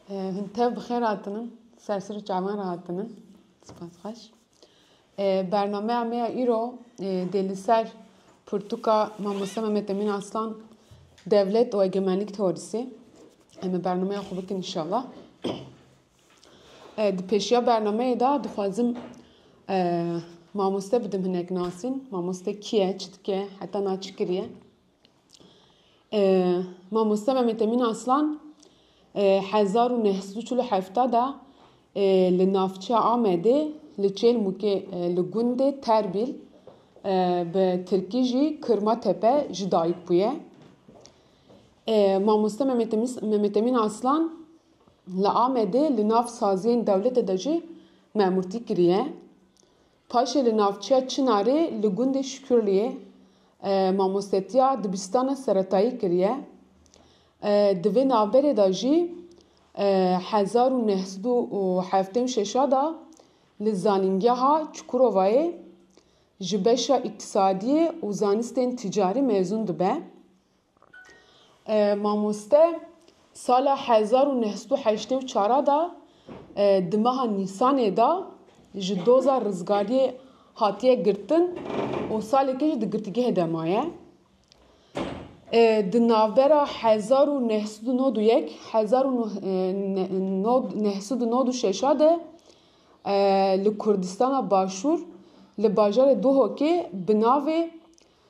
Hin tev bi xêr hatinin. Ser sir û çavan re hatinin. Spas xweş. Bernameya me ya îro dê li ser pirtûka Mamoste Mehmet Emîn Aslan Devlet û Egemenlîk Teorîsê. Em ê bernameya xwe bikin inşallah. Di pêşiya bernameyê de dixwazim mamoste bidim hinek nasîn. Mamoste kî ye, çi dike, heta na çi kiriye. Mamoste Mehmet Emin Aslan 1947 de li navçeya Amedê li Çêlmûkê li gundê Terbîl bi tirkî jî Kirma Tepe ji dayik bûye. Mamoste Mehmet Emin Aslan li Amedê li nav saziyên dewletê de jî memûrtî kiriye. Paşê li navçeya Çinarê li gundê Şikurliyê mamostetiya dibistana seretayî kiriye. Di vê navberê de jî hezar û neh sed û heftê û şeş a de li zanîngeha Çukurovayê ji beşa îktisadiyê û zanistên tîcarî mezûn dibe. Mamoste sala hezar û neh sed û heştê û çar a de di meha Nîsanê de ji doza rizgariyê hatiye girtin û salekê jî di girtîgehê de maye. Di navbera hezar û neh sed û nod û yek û hezar û neh sed û nod û şeş a de li Kurdistana Başûr li bajarê Duhokê bi navê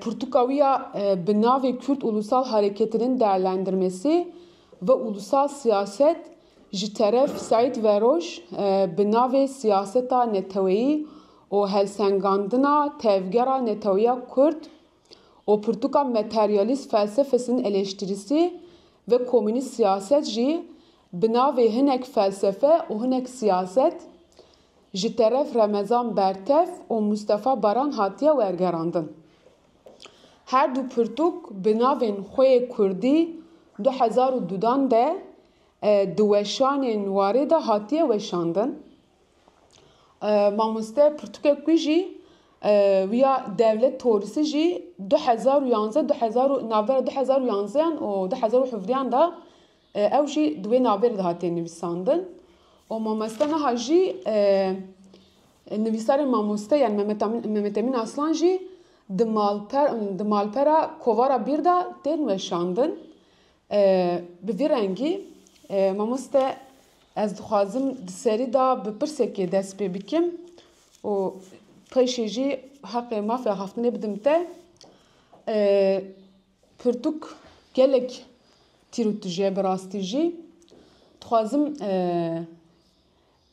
Pirtûkawiya bi navê Kürt Ulusal Hareketi'nin değerlendirmesi ve ulusal siyaset ji teref Seîd Veroj bi navê Siyaseta Neteweyî û helsengandina tevgera neteweya Kurd û pirtûka materyalîst felsefesinin eleştirisi ve komünîst siyaset jî bi navê Hinek felsefe û hinek siyaset Ji teref Remezan Bertev û Mustafa Baran hatiye wergerandin. Her du pirtûk bi navên Xweyê Kurdî du hezar û dudan de di weşanên warê de hatiye weşandin. Mamoste pirtûkek wî jî wî ya Devlet Torisi jî du hezar û yanze du hezar û navbera du hezar û yanzeyan û du hezar û hevdeyan de Ew jî di wê navê re dihatiye nivîsandin û mamoste niha jî nivîsarê mamoste yan Mehmet Emîn Aslan jî di malpera Kovara Bîr de tên weşandin. Bi vî rengî mamoste ez dixwazim di serî de bi pirsekê dest pê bikim û pêşê jî heqê mafê axaftinê bidim te. Pirtûk gelek tîr û tije bi rastî jî dixwazim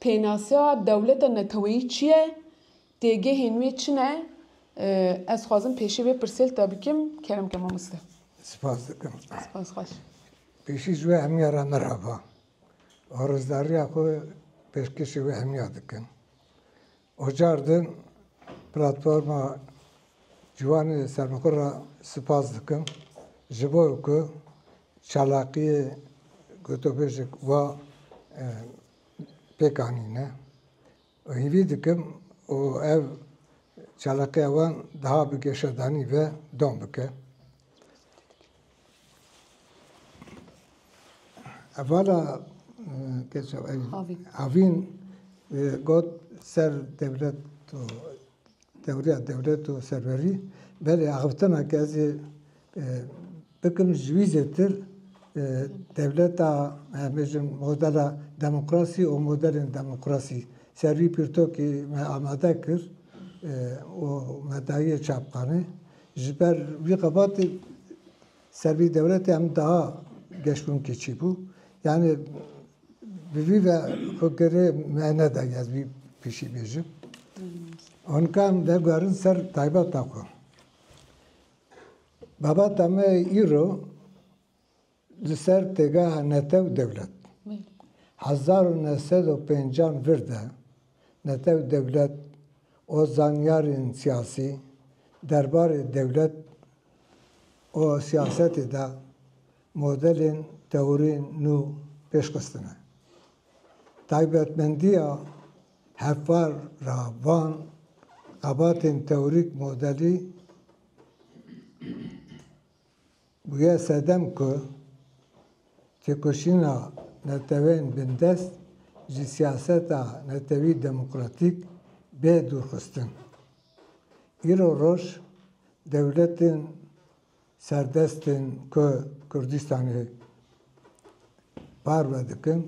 pênaseya dewleta neteweyî çi ye, têgehên wê çi ne? Ez dixwazim pêşî vê pirsêl te bikim. Kerem ke mamoste. Spas dikim. Spas xweş. Pêşî ji wê hemiya re merhaba. Arozdarîya xwe pêşkêşî wê hemiya dikim. Ocar din platforma Ciwan ê Serbixwe re spas dikim ji bo ku çalakiyê gotûbêjek wa pêk anîne û hîvî dikim û ev çalakiya wan daha bi geşadanî ve dom bike. Hevala Keso Avîn got ser dewlet û tewriya dewlet û serwerî belê axiftina ke ez ê bikim ji wî zêtir dewleta em bêjin modela demokrasî û modelên demokrasî ser wî pirtûkê me amade kir û me daye çapxanê. Ji ber wî xebatê ser vî dewletê em daha geşbûnkê çîbû. Yanî bi vî ve xwe girê me nedaye ez vî pişî bêjim. Onka em veguherin ser taybeta xwe. Babata me îro Li ser têgeha Netew Dewlet hezar û neh sed û pêncan vir de Netew Dewlet û zanyarên siyasî derbarê dewlet û siyasetê de modelên tewirî nû pêş xistine. Taybetmendiya hevpar ra van xebatên tewirîk modelî. Bûye sedem ku têkoşîna neteweyên bindest ji siyaseta netewî demokratîk bê dûrxistin. Îro roj dewletên serdest ên ku Kurdistanê parve dikin,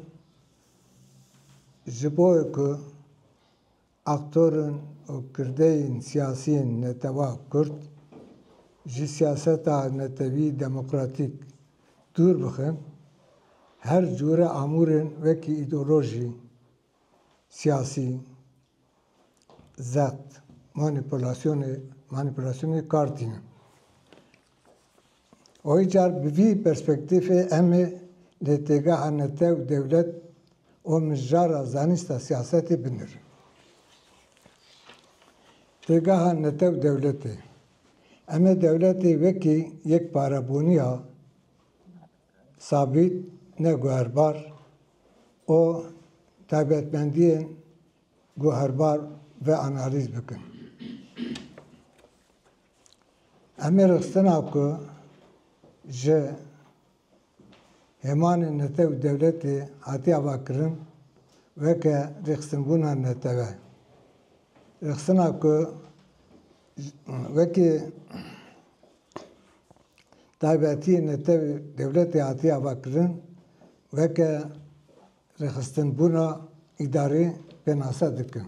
ji bo ku Aktorên û kirdeyên siyasiyên netewa kurd ji siyaseta netewî demokratîk dûr bixin, her cûre amûrên wekî îdeolojî, siyasî, zext, manîpulasyonê, manîpulasyonê kar tînin. Oy car bi vî perspektîfê em ê lê têgeha netew, dewlet û mijara zanîsta siyasetê binirin. Têgeha netew dewletê. Em ê dewletê wekî yek parebûniya sabît, ne guherbar û taybetmendiyên guherbar ve analîz bikin. Em ê rixistina ku ji hêmanên netew û dewletê hatiye avakirin weke rixistinbûna netewe, rixistina ku wekî taybetiyê netew û dewletê hatiye avakirin weke rixistinbûna îdarî pênase dikin.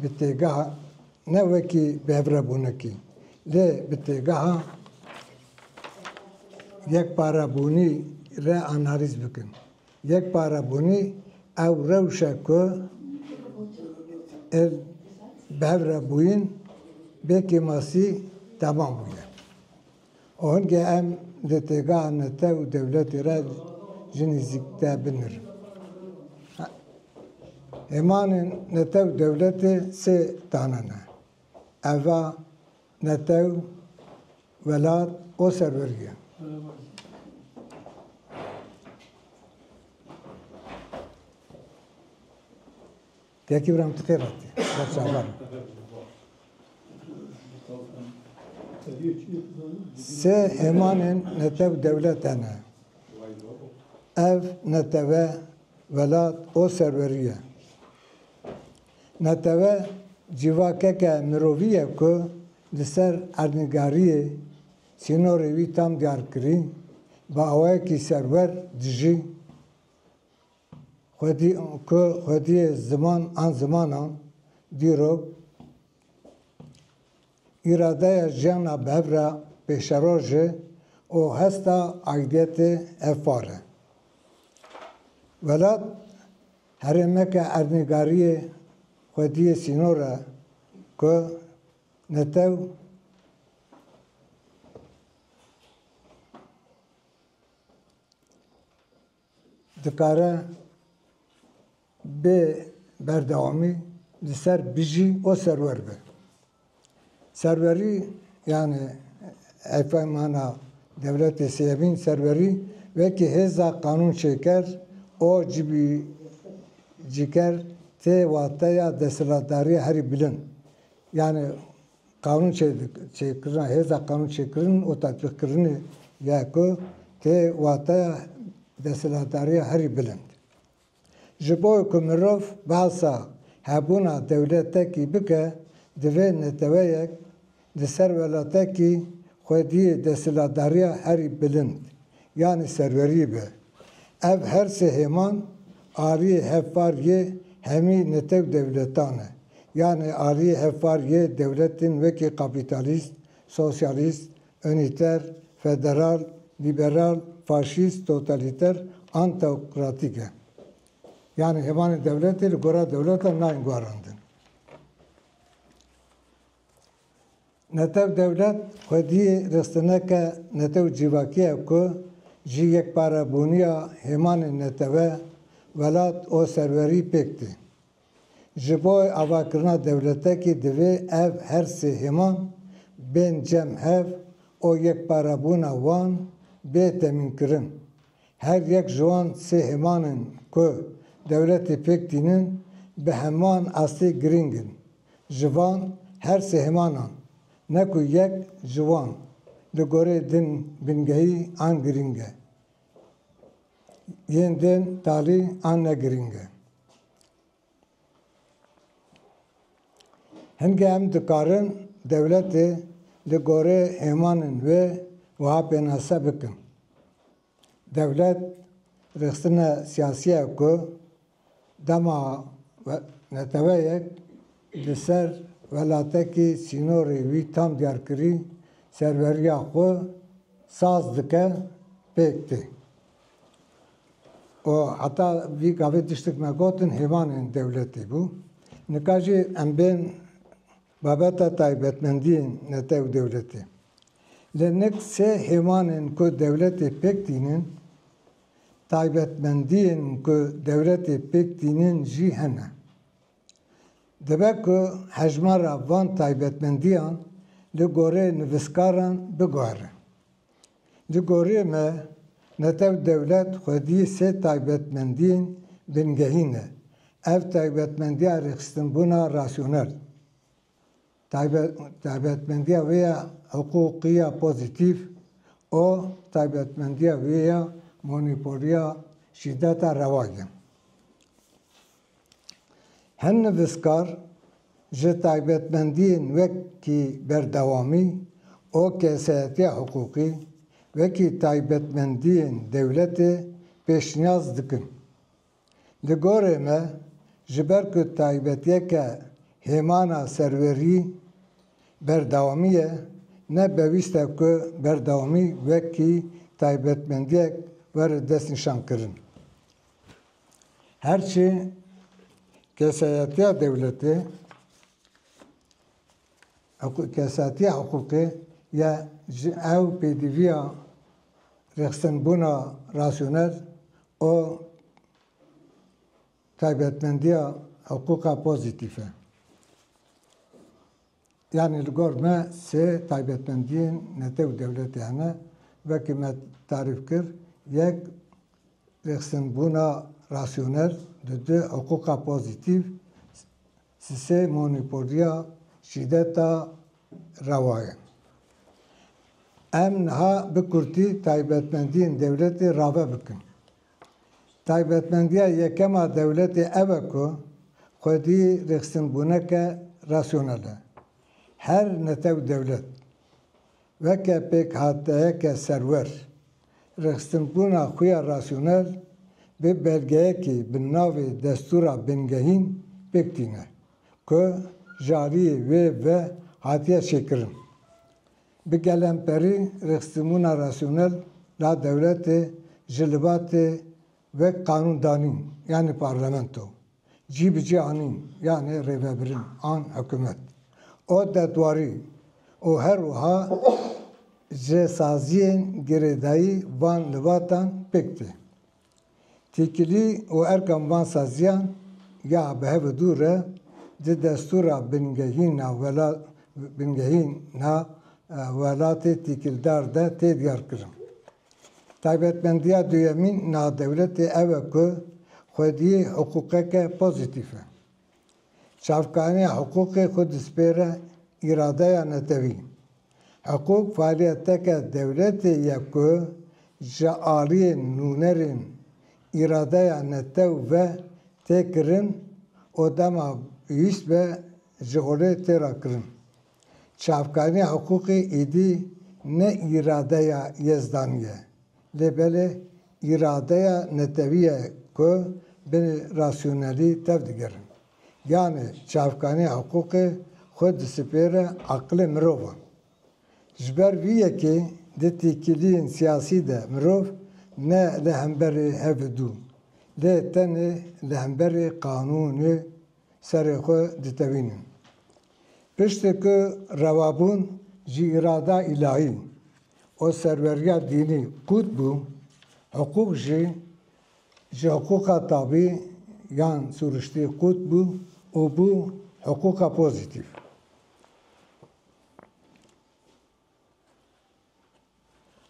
bi têgeha ne wekî bi hevrebûnekî lê bi têgeha yekparebûnî re analîz bikin. Yekparebûnî ew rewş e ku êl bi hev re bûyîn bê kêmasî temam bûye. Û hingê em di têgaha me te û dewletê re ji nîzîk te binir. Hêmanên netew û dewletê sê tane ne. Ev a, netew, welat û serwerî ye. Têkî wira em ti tê vatê. Ber çavan. Se emanên netev dewlet ene. Ev neteve velat o serweriye. Neteve civakeke miroviye ku li ser erdnîgariyê sînorê wî tam diyar kirî, bi awayekî serwer dijî. Ku xwediyê ziman an zimanan dîrok îradeya jiyana bi hev re pêşeroj e û hesta aidiyetê ev far e. Welat herêmeke erdnîgariyê xwediyê sînor e ku netew dikare bi berdewamî li ser bijî û serwer be. Serwerî yanî hevpeymana dewletê sêyemîn serwerî wekî hêza qanûnçêker û cîbicîker tê wateya desthilatdarîya herî bilind yanî Qanûnçêkirina hêza qanûnçêkirin û tatbîqkirinê ye ku tê wateya desthilatdariya herî bilind. Ji bo ku mirov behsa hebûna dewletekî bike, divê neteweyek di ser welatekî xwediyê desthilatdariya herî bilind yanî serwerî be. Ev her sê hêman ariyê hevpar yê hemî netew dewletan e. Yanê ariyê hevpar yê dewletên wekî kapîtalîst, sosyalîst, unîter, federal, lîberal, faşîst, totalîter an teokratîk e. Yanê hêmanên dewletê li gora dewletan nayên guharandin. Netew dewlet xwediyê restineke netew cîvakî ye ku ji yekparebûniya hêmanên netewe, welat û serwerî pêk tê. Ji bo avakirina dewletekî divê ev her sê hêman bên cem hev û yekparebûna wan bê temînkirin. Her yek ji wan sê hêmanên ku dewletê pêk tînin bi heman astî girîng in. ji van her sê hêmanan, ne ku yek ji wan li gorî din bingehî an girîng e, yên din talî an ne girîng e. Hinge em dikarin dewletê li gorî hêmanên wê wiha pênase bikin. Dewlet rexsine siyasiye ku dema neteweyek li ser welatekî sînorê wî tam diyarkirî serweriya xwe saz dike pêk tê û heta vî gavê tiştek me gotin hêvanên dewletê bû. Nika jî em bên Babeta taybetmendiyên nete û dewletê. Li nik sê hêvanên ku dewletê pêk tînin, taybetmendiyên ku dewletê pêk tînin jî hene. Dibe ku hejmara van taybetmendiyan li gorê nivîskaran biguhere. Di gorîyê me netew dewlet xwedî sê taybetmendîyên bingehî ne. Ev taybetmendîya rêxistinbûna rasyonel, taybetmendîya wê ya hiqûqî ya pozîtîf û taybetmendîya wê ya monopolîya şîdeta rewag in. Hin nivîskar ji taybetmendiyên wekî berdewamî û kesayetiya hiqûqî wekî taybetmendiyên dewletê pêşniyaz dikin. Di gorê me ji ber ku taybetiyeke hêmana serwerî berdewamî ye, ne bewîst e ku berdewamî wekî taybetmendiyek were destnîşankirin. Her çi kesayetiya dewletê kesatiya hiqûqê ye ji ew pêdivîya rêxistinbûna rasyonel û taybetmendîya hiqûqa pozîtîf e. Yanî li gor me sê taybetmendiyên netew dewletê hene. Wekî me tarîf kir, yek rêxistinbûna rasyonel di du hiqûqa pozîtîf, sisê monîpoliya şîdeta rewa ye. Em niha bi kurtî taybetmendiyên dewletê rave bikin. Taybetmendiya yekem a dewletê ev e ku xwedî rêxistinbûneke rasyonel e. Her netew dewlet, weke pêkhateyeke serwer, rêxistinbûna xwe ya rasyonel bi belgeyekî bi navê destûra bingehîn pêk tîne ku jariyê wê ve hatiye çêkirin. Bi gelemperî rexstimûna rasyonel la dewletê ji libatê wek qanûndanîn yanê parlamento, cî bi cî anîn yanê rêvebirin an hikumet û detwarî û her wiha ji saziyên girêdayî van libatan pêk tê. Têkilî û erkan van saziyan ya bi hev û dû re di destûra bingehîna welatê têkildar de tê diyarkirin. Taybetmendiya duyemîn navdewletê ew e ku xwediyê hiqûqeke pozîtîf e. Çavkaniya hiqûqê xwe dispêre îradeya netewî. Hiqûq faaliyeteke dewletê ye ku ji aliyê nûnerên îradeya netew ve tê kirin û dema pêwîst be ji holê tê rakirin. Çavkariya hiqûqê êdî ne îradeya Yezdanî ye, lê belê îradeya netewî ye ku bi rasyonelî tev digerin. Yanê çavkariya hiqûqê xwe disipêre aqilê mirovan. Ji ber vî yekê di têkiliyên siyasî de mirov ne li hemberê hev û dû, lê tenê li hemberê qanûnê serê xwe ditewînin. Piştî ku rewabûn ji îrada îlahî û serweriya dînî qût bû, hiqûq jî ji hiqûqa tabî yan sûriştî qût bû û bû hiqûqa pozîtîf.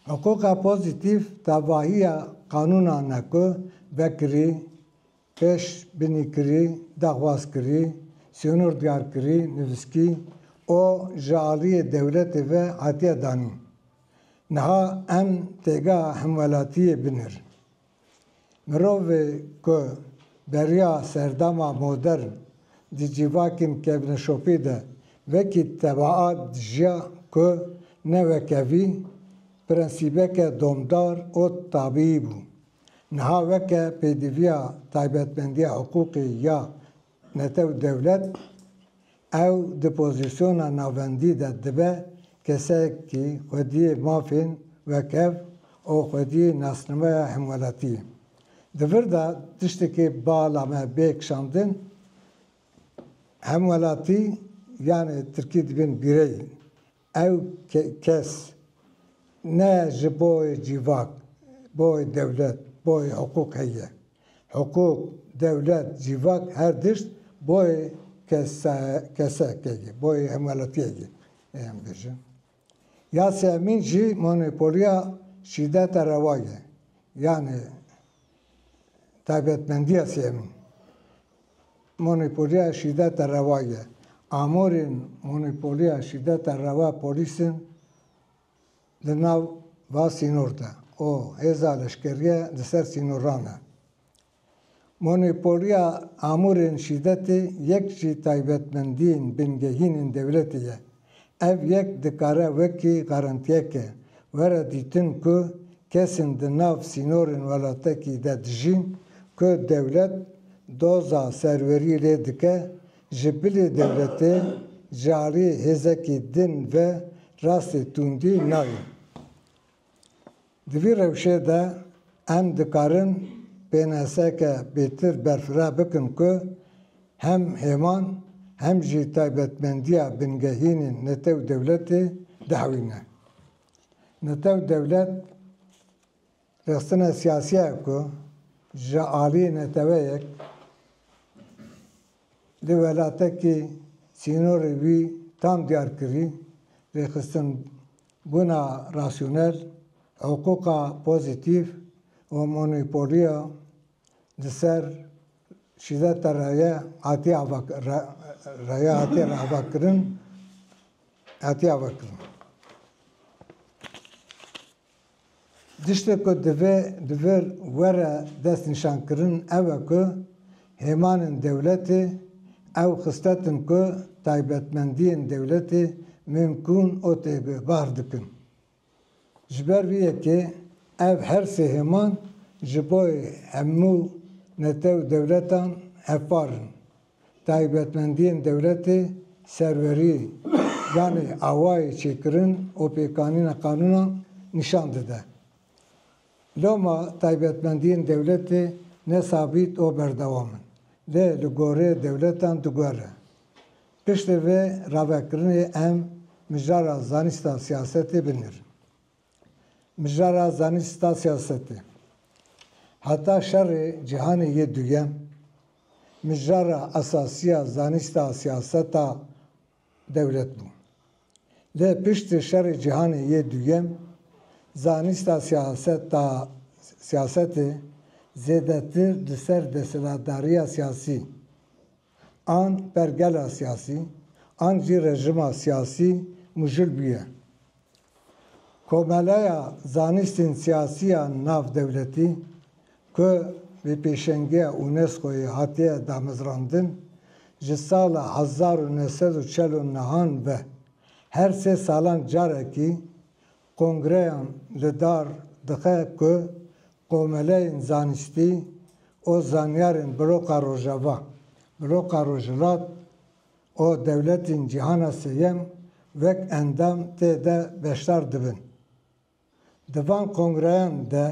Hiqûqa pozîtîf tevahiya qanûnan e ku vekirî, pêşbînîkirî, daxwazkirî, sînortgarkirî, nivîskî û ji aliyê dewletê ve hatiye danîn. Niha em têgeha hemwelatiyê binir. Mirovê ku beriya serdama modern di civakên kevneşopî de wekî tebaa dijiya ku ne weke vî prensîbeke domdar û tabîî bû, niha weke pêdiviya taybetmendiya hiqûqê ya Netew dewlet, ew di pozîsyona navendî de dibe kesekî xwediyê mafên wek ev û xwediyê nasnameya hemwelatî. Di vir de tiştekî bala me bê kişandin, hemwelatî yanê tirkî dibin bîreyî. Ew kes ne ji boyê cîvak, boyê dewlet, boyê hiqûq heye. Hiqûq, dewlet, cîvak her tişt boyê kesek ye, boyê hemwelatiyek ye. Ê em bêjin. Yasê Emîn jî monopoliya şîdeta rewa ye. Yanê taybetmendiya Yasê Emîn. Monopoliya şîdeta rewa ye. Amûrên monopoliya şîdeta rewa polîsên li nav va sînor de û hêza leşkerîye li ser sînoran e. Monopoliya amûrên şîdetê yek ji taybetmendiyên bingehînên dewletê ye. Ev yek dikare wekî garantiyeke were dîtin ku kesên di nav sînorên welatekî de dijîn ku dewlet doza serwerî lê dike, ji bilê dewletê ji aliyê hêzekî din ve rastê tundî nayên. Di vî rewşê de em dikarin pênaseke pêtir berfireh bikin ku hem hêman hem jî taybetmendiya bingehînên netew dewletê dihewîne. Netew dewlet rexstina siyasî ye ku ji aliyê neteweyek, Di welatekî sînorê wî tam diyar kirî, rêxistinbûna rasyonel, hiqûqa pozîtîf û monopolîya di ser şîdeta reye hatiye avakirin. Tiştê ku divê bi vir were destnîşankirin ew e ku hêmanên dewletê ew xisletin ku taybetmendiyên dewletê mimkûn û têgihbar dikin. Ji ber vî yekê ev her sê hêman ji bo hemû netew dewletan hevpar in. Taybetmendiyên dewletê, serwerî, ganê awayê çêkirin û pêkanîna qanûnan nîşan dide. Loma taybetmendiyên dewletê ne sabît û berdewam in, lê li gorê dewletan digere. Piştî vê ravekirinê em mijara zanîsta siyasetê binêrin. Mijara zanîn sta siyasetê. Heta şerê cîhanê yê duyem, mijara esasî ya zanîsta siyaseta dewlet bû. Lê piştî şerê cîhanê yê duyem zanîsta siyaseta siyasetê zêdetir di ser desthilatdariya siyasî, an pergela siyasî an jî rejima siyasî mujûl bûye. Komeleya Zanîstên Siyasî ya Navdewletî ku bi pêşengiya UNESCO'yê hatiye damezrandin, ji sala hezar û neh sed û çel û nihan ve her sê salan carekî Kongreyan li dar dixe ku komeleyên zanistî û zanyarên bloka rojava, bloka rojhilat û dewletên cîhana sêyem wek endam tê de beşdar dibin. Di van kongreyan de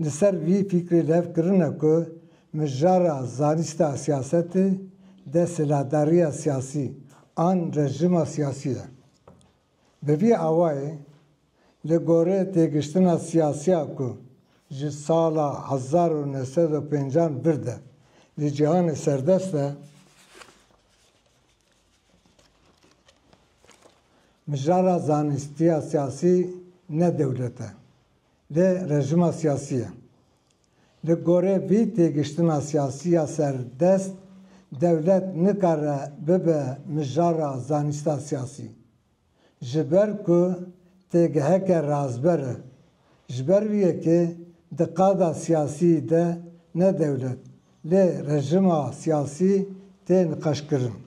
li ser vî fîkrê lev kirine ku mijara zanista siyasetê dest silahdariya siyasî an rejima siyasî ye. Bi vî awayî, li gorî têgiştina siyasî ya ku ji sala hezar û neh sed û pêncan vir de li cîhanê serdest de, mijara zanîstiya siyasî ne dewlet e, lê rejima siyasî ye. Li gorî vî têgiştina siyasî ya serdest, dewlet nikare bibe mijara zanîsta siyasî. Ji ber ku têgiheke razber e. Ji ber vî yekê di qada siyasî de ne dewlet lê rejima siyasî tê niqeşkirin.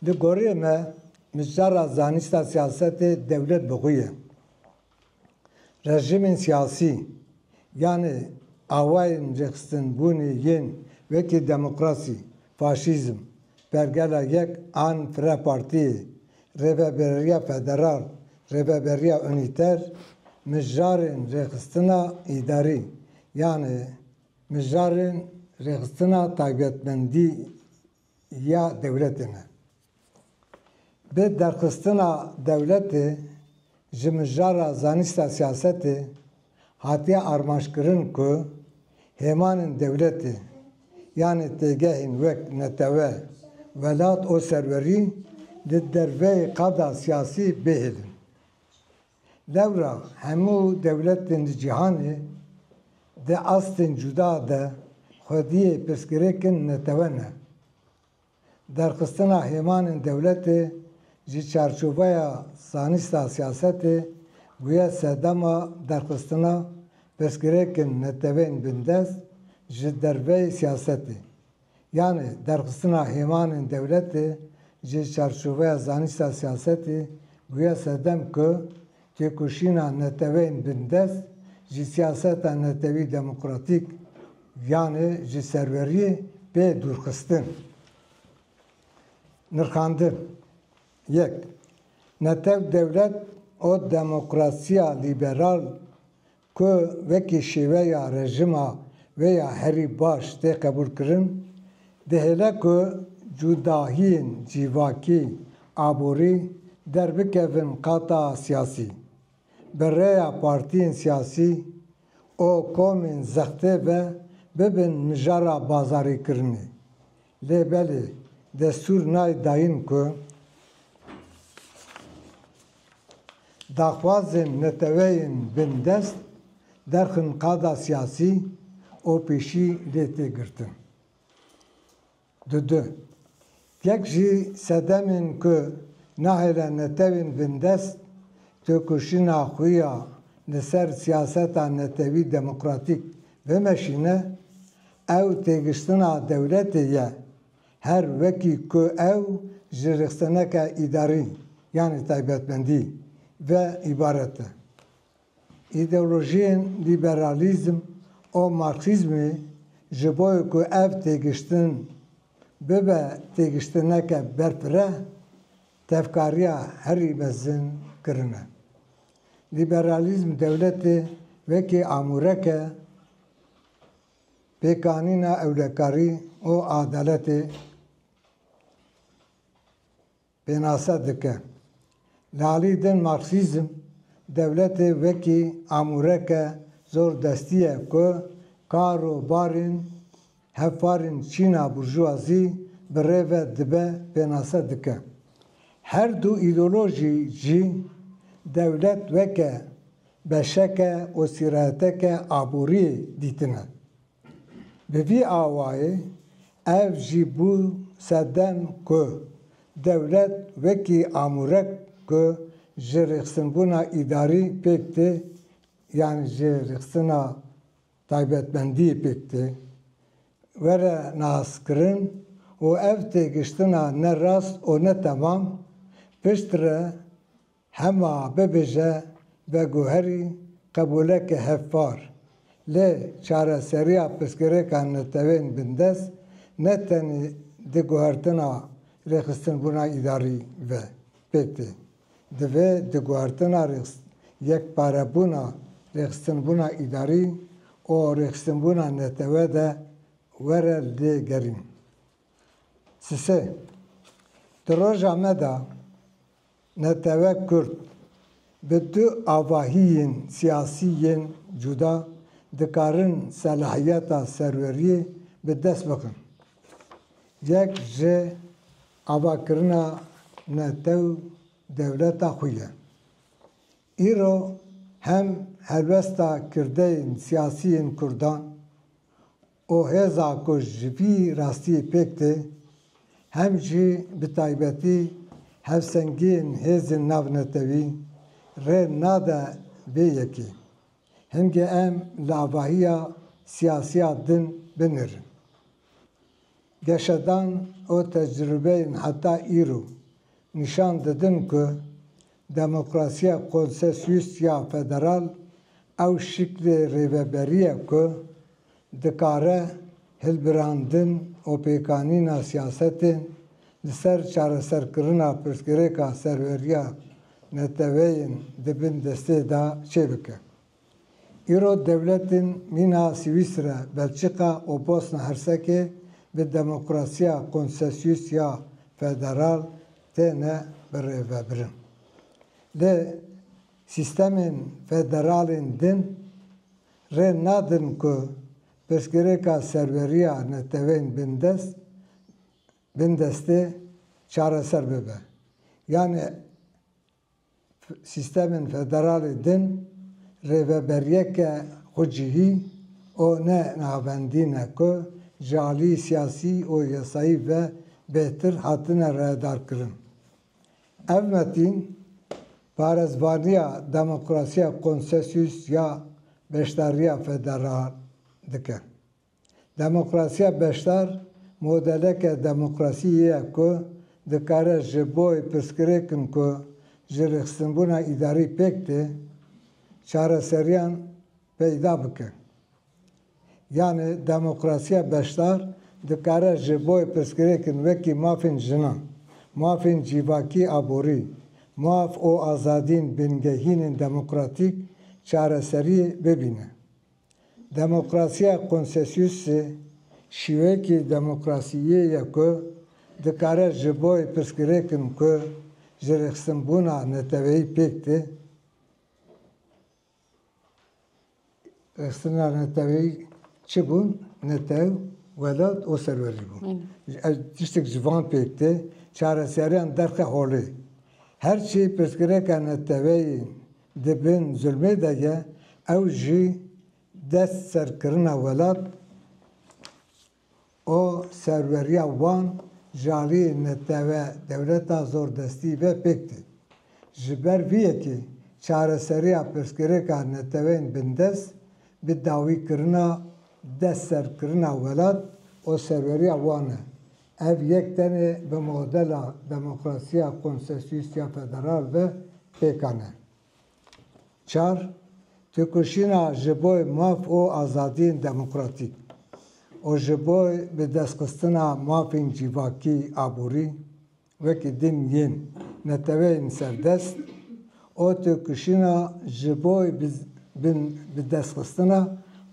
Di goriyê me mijar a zanîsta siyasetê dewlet bi xwe ye. Rejîmên siyasî yanê awayên rêxistinbûnê yên wekî demokrasî, faşîzm, pergela yek an fire partiyê Rêveberiya Federal, Rêveberiya Unîter, Mijarên Rêxistina Îdarî yanê Mijarên Rêxistina Taybetmendî ya Dewletê ne. Bi derxistina dewletê Ji mijara zanîsta siyasetê hatiye armançkirin ku hêmanên dewletê yanê têgehên wek netewe, welat û serwerî di derveyê qada siyasî bihêlin. Lewra hemû dewletên li cîhanê di astên cuda de xwediyê pirsgirêkin netewe ne. Derxistina hêmanên dewletê ji çarçoveya zanista siyasetê bûye sedema derxistina pirsgirêkin netewên bindest ji derveyî siyasetê. Yanê derxistina hêmanên dewletê ji çarçoveya zanista siyasetê bûye sedem ku Têkoşîna neteweyên bindest ji siyaseta netewî demokratîk yanê ji serweriyê pê dûrxistin. Nirxandin Yek, netew dewlet û demokrasiya lîberal Ku wekî şêweya rejima wê ya herî baş tê qebûlkirin, dihêle ku cudahiyên cîvakî, aborî derbikevin qata siyasî. Bi rêya partiyên siyasî û komên zextê ve bibin mijara bazarîkirinê. Lê belê destûr nayê dayîn ku daxwazên neteweyên bindest derxin qada siyasî û pêşî lê tê girtin. Di du. Yek jî sedemên ku nahêle netewên bindest têkoşîna xwe ya li ser siyaseta netewî demokratîk bimeşîne, Ew têgiştina dewletê ye. Her wekî ku ew ji rixsineke îdarî yanî taybetmendî ve îbaret e. Îdeolojiyên lîberalîzm û marksîzmê ji bo ku ev têgiştin bibe têgiştineke berfireh tevkariya herî mezin kirine. Lîberalîzm dewletê wekî amûreke. Pêkanîna ewlekarî û adaletê pênase dike. Li alî din Marksîzm dewletê wekî amûreke zordestî ye ku kar û barên hevparên çîna burjûwazî bi rê ve dibe pênase dike. Her du îdeolojî jî dewlet weke beşeke û sîreteke aboriyê dîtine. Bi vî awayê ev jî bû sedem ku dewlet wekî amûrek ku ji rêxistinbûna îdarî pêk tê yan ji rêxistina taybetmendiyê pêk tê were naskirin û ev têgiştina ne rast û ne temam piştre Hema bibêje ve guherî qebûleke hevpar. Lê çareseriya pirsgirêka netewên bindest ne tenê di guhertina rêxistinbûna îdarî ve pêk tê. Divê di guhertina yekparebûna rêxistinbûna îdarî û rêxistinbûna netewe de were lê gerîn. Sisê, di roja me de Netewe Kurd, bi du avahiyên siyasî yên cuda dikarin selahiyeta serweriyê bi dest bixin. Yek ji avakirina netew dewleta xwe ye. Îro hem helwesta kirdeyên siyasî yên kurdan û hêza ku ji vî rastiyê pêk tê, hem jî bi taybetî hevsengiyên hêzên navnetewî rê nade vê yekê. Hingê em li avahiya siyasiya din binirin. Geşedan û tecrubeyên heta îro nîşan didin ku Demokrasiya konsesyus ya federal ew şiklê rêveberî ye ku dikare hilbirandin û pêkanîna siyasetê li ser çareserkirina pirsgirêka serweriya neteweyên di bin destê de çêbike. Îro dewletên mîna Swîsre, Belçîka û Bosna Hersekê bi demokrasiya konsesyus ya federal têne birêvebirin. Lê sîstemên federalên din rê nadin ku pirsgirêka serweriya neteweyên bindest bindestê çareser bibe. Yanî Sîstemên federalî din rêveberiyeke xwe cihî û ne navendî ne ku ji aliyî siyasî û yasayî ve bêhtir hatine rayedarkirin. Ev metîn parêzvaniya demokrasiya konsesyus ya beşdariya federal dike. Demokrasiya beşdar modeleke demokrasiyê ye ku dikare ji bo pirsgirêkin ku ji rêxistinbûna îdarî pêk tê, çareseriyan peyda bike. Yanî demokrasiya beşdar dikare ji bo pirsgirêkin wekî mafên jinan, mafên cîvakî aborî, maf û azadîn bingehînên demokratîk çareseriyê bibîne. Demokrasiya konsesyusî şîweyekî demokrasiyê ye ku dikare ji bo pirsgirêkin ku ji rêxistinbûna neteweyî pêk tê, rêxistina neteweyî çi bûn? Netew, welat û serwerî bûn. Ev tiştek ji van pêk tê, çareseriyan derxe holê. Her çî pirsgirêka neteweyî Di bin zulmê de ye, ew jî destserkirina welat û serweriya wan ji aliyê netewe dewleta zordestî ve pêk tê. Ji ber vî yekê çareseriya pirsgirêka neteweyên bindest bi dawîkirina destserkirina welat û serweriya wan e. Ev yek tenê bi modela demokrasiya konsesyusiya federal ve pêka ne. Çar, têkoşîna ji bo maf û azadiyên demokratîk û ji bo bidestxistina mafên cîvakî, aborî, wekî din yên neteweyên serdest û têkoşîna ji bo bidestxistina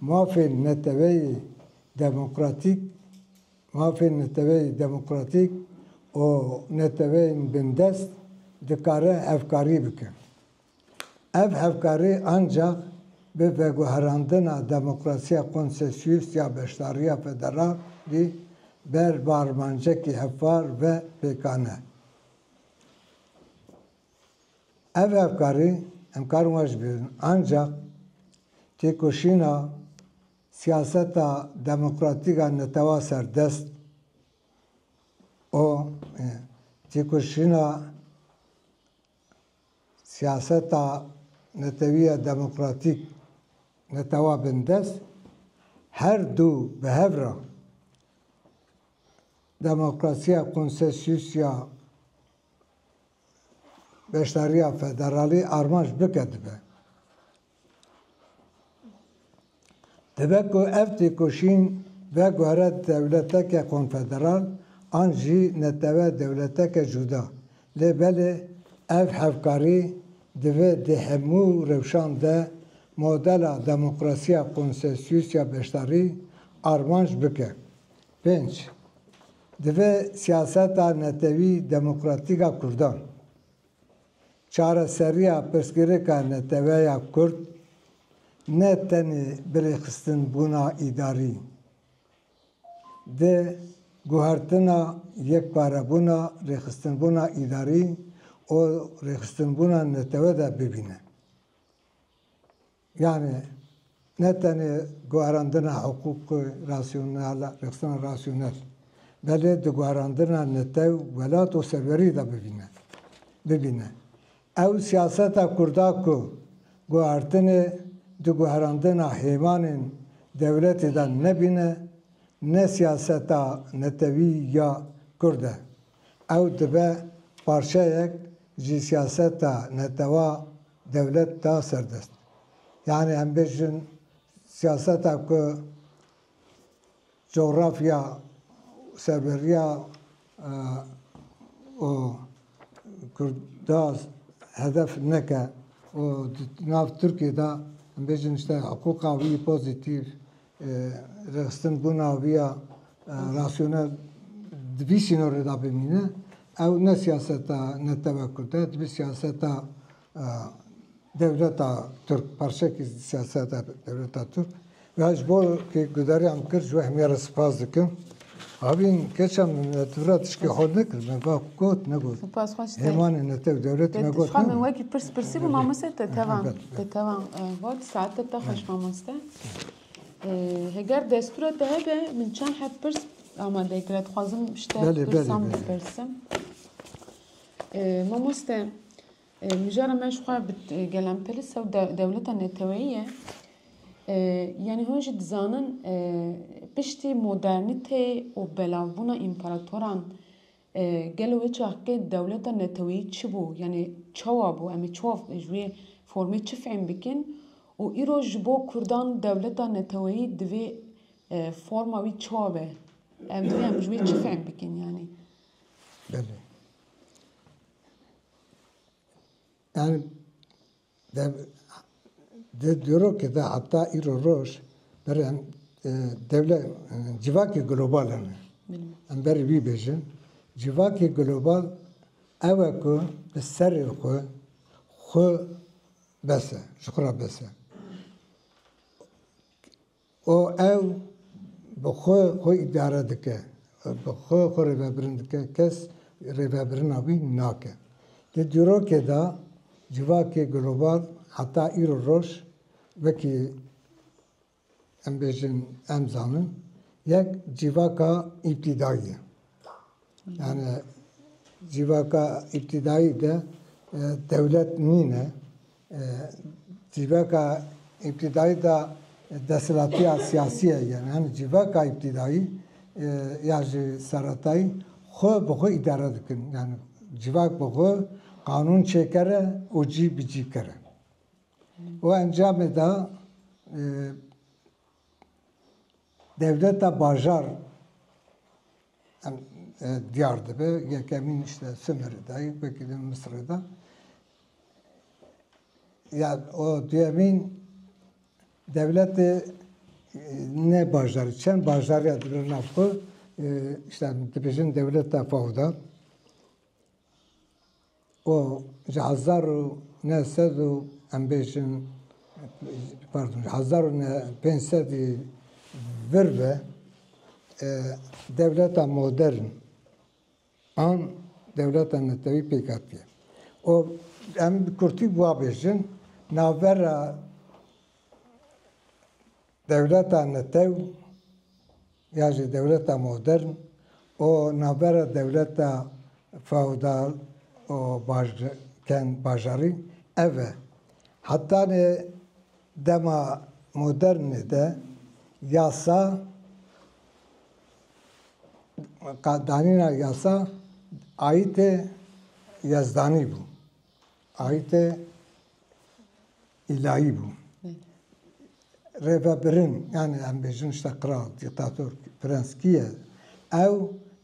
mafên neteweyê demokratîk, Mafên neteweyî demokratîk û neteweyên bindest dikarin hevkarî bikin. Ev hevkarî ancax bi veguherandina demokrasiya konsesyus ya beşdariya federalî ber bi armancekî hevpar ve pêkane. Ev hevkarî em karin weş bibin ancax têkoşîna. Siyaseta demokratîk a netewa serdest û têkoşîna siyaseta netewî ya demokratîk netewa bindest her du bi hev re demokrasiya konsesyusiya beşdariya federalî armanc bike dibe. Dibe ku ev têkoşîn veguhere dewleteke konfederal an jî netewe dewleteke cuda. Lê belê ev hevkarî divê di hemû rewşan de modela demokrasiya konsensusiya beşdarî armanc bike. Pênc, Divê siyaseta netewî demokratîk a kurdan, Çareseriya pirsgirêka neteweya Kurd ne tenê birêxistinbûna îdarî, di guhertina yekparebûna rêxistinbûna îdarî û rêxistinbûna netewe de bibîne. Yanî ne tenê guharandina hiqûqê rasyonel a, rexsana rasyonel, belê di guharandina netew, welat û serwerî de bivîne, bibîne. Ew siyaseta kurda ku guhartinê di guharandina hêvanên dewletê de nebîne, ne siyaseta netewî ya kurd e. Ew dibe parçeyek ji siyaseta netewa Dewlet da ser dest. Yanî em bêjin siyaseta ku cografya û serberiya û Kurda hedef neke û di nav Tirkiyê de em bêjin îşte hiqûqa wî pozîtîf, Rêxistin ku naviya rasyonel di vî sînorê de bimîne, ew ne siyaseta Netewek Kurd e, dibî siyaseta dewleta Tirk, parçekî siyaseta dewleta Tirk. Ji bo ku guderîya min kir ji wehmîya re spas dikim. Avîn keça min me tu ra tişkê xwe nekir, me va got negot. Spas xweş te. Hêmanê ne tev dewletê me got. Xwe min wekî pirs pirsî bû mamoste te tevan te tevan got saete te xweş mamoste. Heger destûra te hebe min çend heft pirs amade kira dixwazim şte pirsan bipirsim. Mamoste Mijara me ji xwe bi gelemperisa û dewleta neteweyî ye. Yanî hûn jî dizanin piştî modernîteyê û belavbûna împaratoran gelo wê çaxkê dewleta neteweyî çi bû? Yanî çawa bû? Em ê çawa ji wê formê çi fehm bikin? Û îro ji bo kurdan dewleta neteweyî divê forma wî çawa be? Em divê em ji wê çi fehm bikin yanî? Belê. Em dev di dîrokê de heta îro roj berê em dewle civakê global hene. Em berê wî bêjin. Civakê global ew e ku bi serê xwe xwe bes e, ji xwe re bes e. û ew bi xwe xwe îdare dike, bi xwe xwe rêvebirin dike, kes rêvebirina wî nake. Di dîrokê de civakê global heta îro roj wekî em bêjin em zanin yek cîvaka îbtîdayî ye. Yani cîvaka îbtîdayî de dewlet nîne. Cîvaka îbtîdayî de desthilatîya siyasî ye. Yani hemî cîvaka îbtîdayî ya ji seretayî xwe bi xwe îdare dikin. Yani cîvak bi xwe qanûn çêkere û cî bi cî kere. Û encamê de Dewleta bajar em diyar dibe yekemîn işte Sumerê de ye wekî li Misirê de ya o duyemîn dewletê ne bajarî çend bajarîya dibin nav xwe işte dibêjin dewleta fewda û ji hezar û neh sed û em bêjin pardon ji hezar û neh pênc sedî vir ve dewleta modern an dewleta netewî pêk hatiye û em bi kurtî bi wa bêjin navbera Dewleta netew ya jî dewleta modern û navbera dewleta feodal û bajarî ev e. Heta nê dema modernê de yasa, danîna yasa ayîtê yezdanî bû. Ayîtê îlayî bû. Rêvebirin yanî em bêjin işte qral, dîktator, prens kî ye? Ew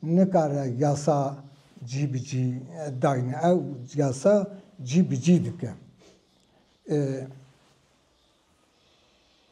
nikare yasa cî bi cî dayne. Ew yasa cî bi cî dike.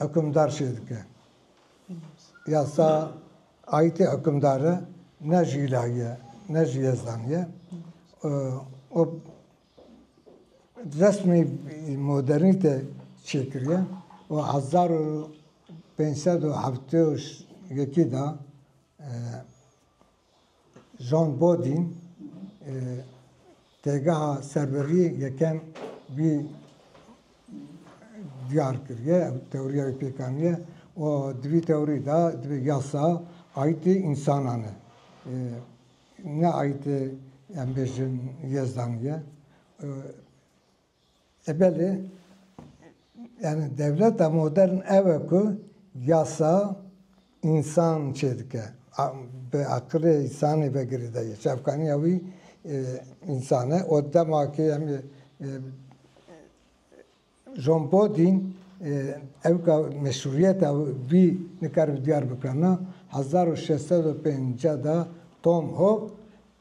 Hukimdar çê dike? Yasa aîtê hukimdare ne ji îlahî ye, ne ji Yezdanî ye û resmî modernîte çêkiriye û hezar û pênc sed û heftê û yekî de Jean Bodin têgeha serveriyê yekem wî diyar kiriye, ew tewriya wî pêk aniye û di vî tewrî de divê yasa ayîtê însanan e. Ne ayîtê em bêjin yezdan ye. E belê, yanî dewleta modern ew e ku yasa însan çêdike, bi eqilê însanê ve girêdayî ye, çavkaniya wî însan e û dema ku em ê John Bodîn ew ka meşrûîyeta wî nikaribe diyar bikirina hezar û şeş sed û pêncî da Tom Hob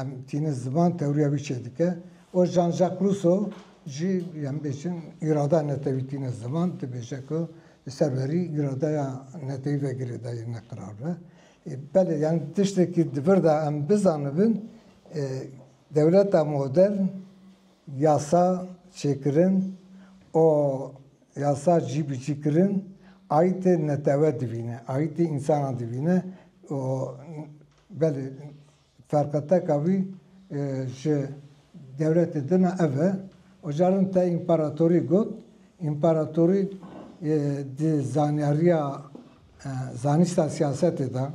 Em tînin ziman tewriya wî çê dike û Jean-Jacques Rousseau jî em bêjin îrada netewî tîne ziman dibêje ku li ser verî îradeya netewî ve girêdayî neqirar be. Belê yani tiştekî di vir de em bizanibin dewleta modern yasa çêkirin û yasa cîbicîkirin aîtê netewe dibîne, aîtê însanan dibîne û Belê, ferqeteka wî ji dewletê din a ev e. Û caran te împaratorî got, împaratorî di zanyariya zanîsta siyasetê de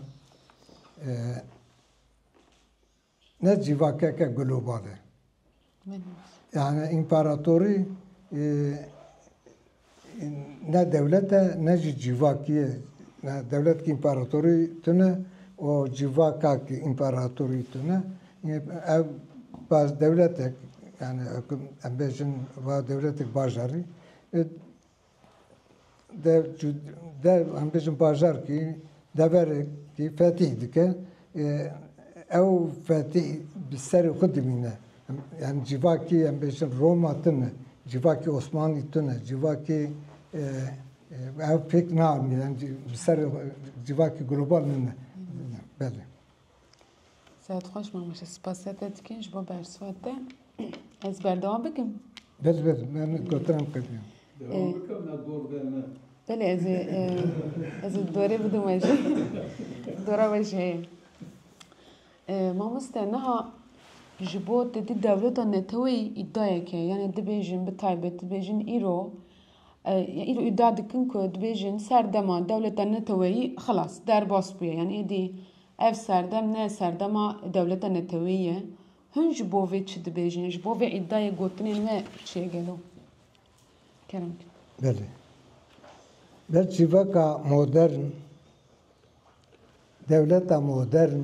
ne cîvakeke global e. Yani împaratorî ne dewlet e ne jî cîvakî ye. Dewlet ki împaratorî tune û cîvaka ki împaratorî tune ev baz dewletek yani em bêjin va dewletek bajarî dev çû dev em bijin bajarkî deverekî fetîh dike ew fetîh bi serê xwe dimîne yani civakî em bêjin Roma tune civakî Osmanlî tune civakî ew pêk naanîne bi serê xwe civakî global nine belê. Sehet xweş mamoste spasê te dikin ji bo bersiva te. Ez berdewam bikim. Bez bez ben gotiran qedî. Belê ez ê ez ê dorê bidim we jî. Dora we jî heye. Mamoste niha ji bo te dî dewleta neteweyî îdayeke ye. Yanê dibêjin bi taybet dibêjin îro Îro îdia dikin ku dibêjin serdema dewleta neteweyî xilas, derbas bûye. Yanî êdî ev serdem ne serdema dewleta neteweyî ye. Hûn ji bo vê çi dibêjin? Ji bo vê îdiayê gotinên we çi ye gelo? Kerem. Belê. Ber civaka modern, dewleta modern,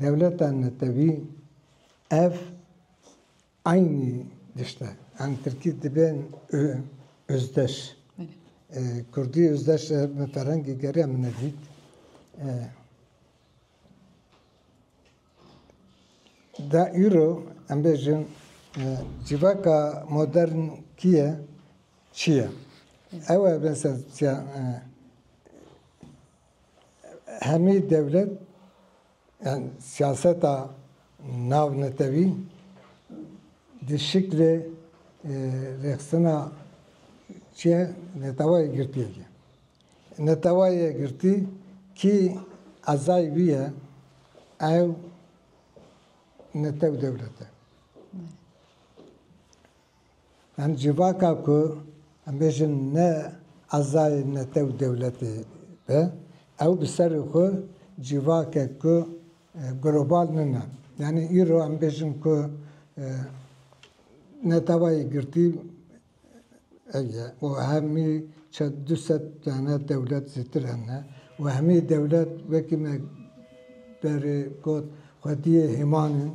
dewleta netewî ev Eynî tişt e. Em tirkî dibên özdeş. Kurdî özdeş e bi ferhengê gerê em nedît. Da îro em bêjin civaka modern kî ye çi ye? Ew e mesela çiya hemî dewlet Yan siyaseta navnetewî di şiklê rêxistina çi ye netewa yekgirtiyê ye. Netewa yekgirtî kî ezayî wî ye ew netew dewlet e. Em civaka ku em bêjin ne ezayê nete û dewletê be, ew bi serê xwe civakek ku global nine. Yanî îro em bêjin ku neteweyê yekgirtî ew ye û hemî çend du sed tane dewlet zêtir hene û hemî dewlet wekî me berê got xwediyê hêman in.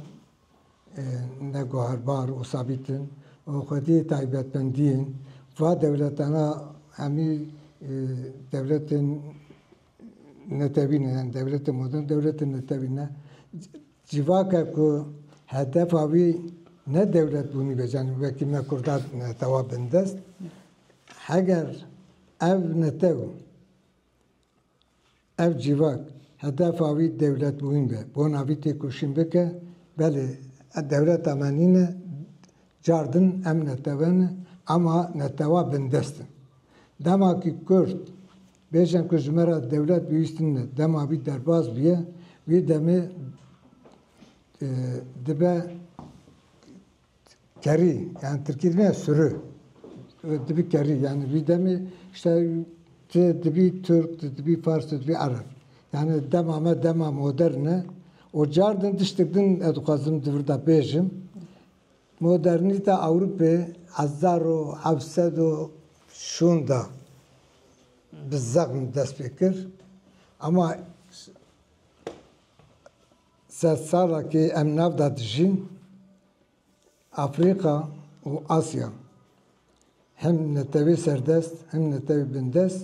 ne guherbar û sabît in û xwedî taybetmendiyên va dewletana hemî dewletên netewî ne yani dewletên modern dewletên netewî ne. Civake ku hedefa wî ne dewletbûnî be yani wekî me Kurdan netewa bindest heger ev netew Ev civak hedefa wî dewletbûyîn be, bona vî têkoşîn bike, belê dewleta me nîne, car din em netewe ne, ema netewa bindest in. Dema kî kurd bêjin ku ji me re dewlet bihîstin ne, dema vî derbas biye, wî demê dibe Kerî yani Tirkî dibîne sürü. Dibî kerî yani vî demê işte ti dibî Türk, ti dibî Fars, ti dibî Ereb. Yani dema me dema modern e. O car din tiştek din ez dixwazim di vir de bêjim. Modernîte Ewropê hezar û heft sed û şûn de bi zexm dest pê kir. Ama Sed sal e kê em nav de dijîn, Afrîka û Asya, him netewê serdest him netewê bindest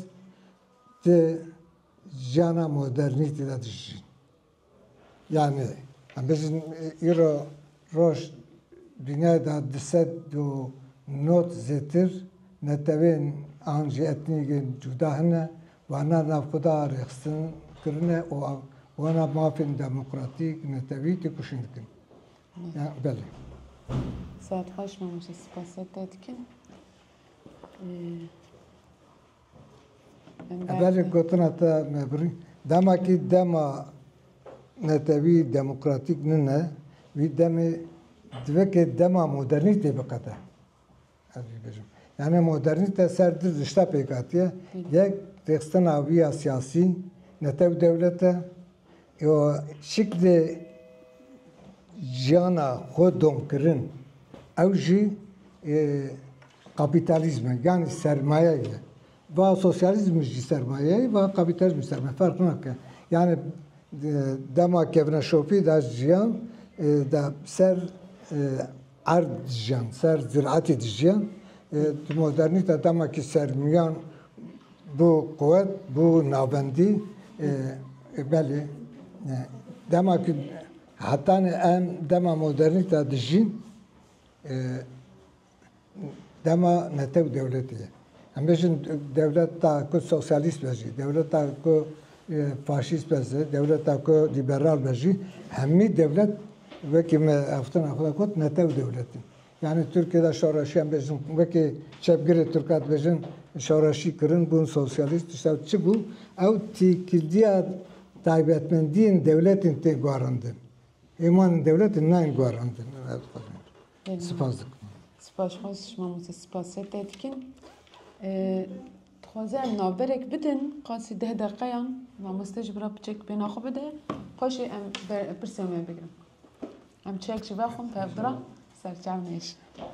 di jiyana modernîtî de dijîn. Yanî em bijîn îro roj dûniyayê de du sed û nod zêtir netewên an jî etnîkên cuda hene wana navxwe de rêxistin kirine û wana mafên demokratîk netewî têkoşîn dikin. Belê. Saet xweş mamoste spasê te dikim. Belê gotina te me birî. Dema kî dema netewî demokratîk nine, wî demê divê kê dema modernîtê biqede. Ez vî bijim. Yani modernîte ser du rişta pêk hatiye. Yek rêxistina wî ya siyasî, netew dewlete yo şiklê jiyana xwe domkirin. Ew jî Kapîtalîzme yanî sermaye ye. Va sosyalîzm jî sermaye ye, va kapîtalîzm jî sermaye ye. Ferq nake. Yanî dema kevine şopî da jiyan da ser erd dijiyan, ser ziratî dijiyan. Di modernîte dema kî sermiyan bû quwet, bû navendî belê dema kî hetanê em dema modernîte dijîn Dema netew dewletê ye. Em bêjin dewleta ku sosyalîst be jî, dewleta ku e, faşîst be jî, dewleta ku lîberal be jî, hemî dewlet wekî me eftina xwe got netew dewletî. Yani Türkiye'de şoreşi em bêjin wekî çepgirê Türkan dibêjin şoreşî kirin bûn sosyalîst tişta çi bû ew tîkildiya taybetmendiyên dewletên tê guherandin. Êman dewletin nayên guherandin. Spas dikim. Spas xwest ji mamoste spasê te dikim. Dixwaze em navberek bidin qasî deh deqeyan mamoste ji bira piçek bêna xwe bide xweşê em pirsê me bigirin. Em çek ji ber xwe pev bira serçav nêşin.